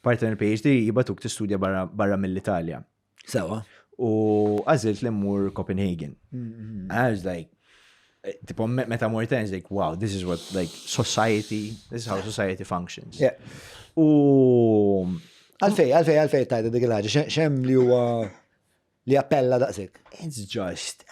Partner PhD jibatuk tistudja barra, barra mill-Italja. Sewa. U għazilt li mmur Copenhagen. Mm-hmm. I was like, eh, tipo, meta mur ten, like, wow, this is what, like, society, this is how society functions. Yeah. U. Għalfej, għalfej, għalfej, tajda dik il-ħagġa, xem li huwa li appella daqsik. It's just,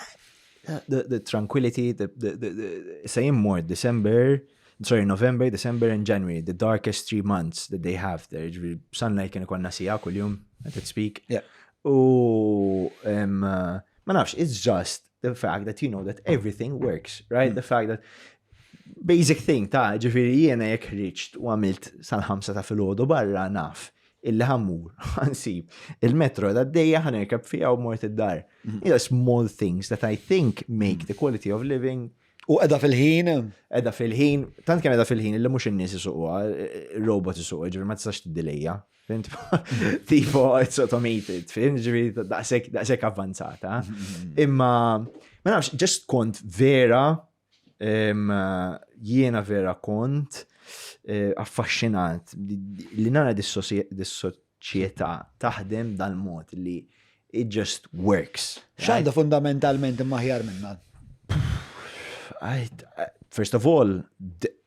the, the tranquility, the, the, the, the sa jimmur December, sorry, November, December and January, the darkest three months that they have there, ġvi sunlight kien ikonna sija kull-jum, I could speak. Yeah. U, um, ma nafx, it's just, the fact that you know that everything works, right? Mm. The fact that basic thing ta' ġifiri jiena jek riċt u għamilt sal-ħamsa ta' fil-ħodu barra naf illi ħammur, għansib, il-metro da' d-dejja ħanerkab fija u mort id-dar. Mm. Ila small things that I think make the quality of living U edha fil-ħin? Edha fil-ħin, tant kien edha fil-ħin, illi mux n-nis jisuqwa, robot jisuqwa, ġivir ma t-sax t-dilija. Fint, tipo, it's automated, fint, ġivi, daqsek avvanzata. Imma, ma nafx, ġest kont vera, jiena vera kont, eh, affaxxinat li nara dis-soċieta taħdem dal-mod li it just works. Xanda fundamentalment imma ħjar minna? First of all,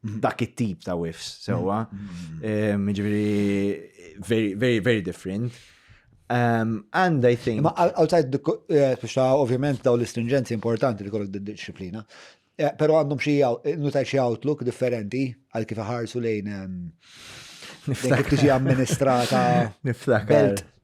dak it-tip ta' whiffs sewwa. Mm-hmm. Eh, ġifieri very, very, very different. Um, and I think. Ma outside the, eh, biex ta' ovvjament daw l-istringenzi importanti li kollok disciplina, eh, pero għandhom xie nutaj xie outlook differenti għal kif ħarsu lejn ehm, kif tiġi amministrata belt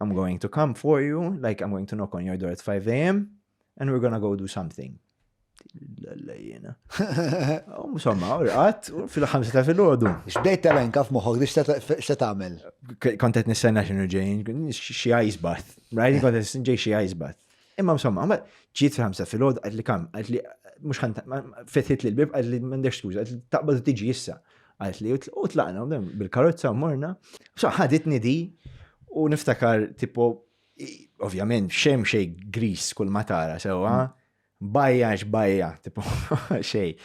I'm going to come for you, like I'm going to knock on your door at 5 a.m. and we're gonna go do something. Lalla jena. Insomma, u rqat, fil-ħamsa ta' fil-ħodu. Xbdejt ta' renka f'moħħok, xta tagħmel? Kontet nistenna xinu ġejn, xie ice bath. Right, kontet ġej xie ice bath. Imma insomma, ma ġiet fil-ħamsa fil-ħod, għad li kam, għad li mux ħan fetħit li l-bib, għad li mandek skuza, għad li taqbad tiġi jissa. Għad li u tlaqna bil-karozza u morna. So ħaditni di u niftakar tipo, ovvjament, xem xej gris kull matara sewa, bajja xbajja, tipo xej.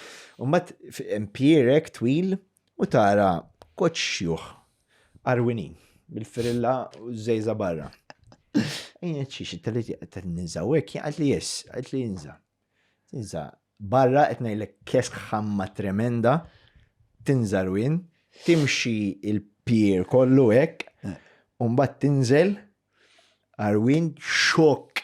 Umbat empirek twil u tara koċ xjuħ Arwinin, bil-firilla u żejża barra. Ejja ċiex, it-telit qed ninża u hekk jaqgħet li jess, qed li jinża. Tinża barra qed ngħidlek kesk ħamma tremenda, tinża rwin, timxi il-pier kollu hekk, u mbagħad tinżel arwin xok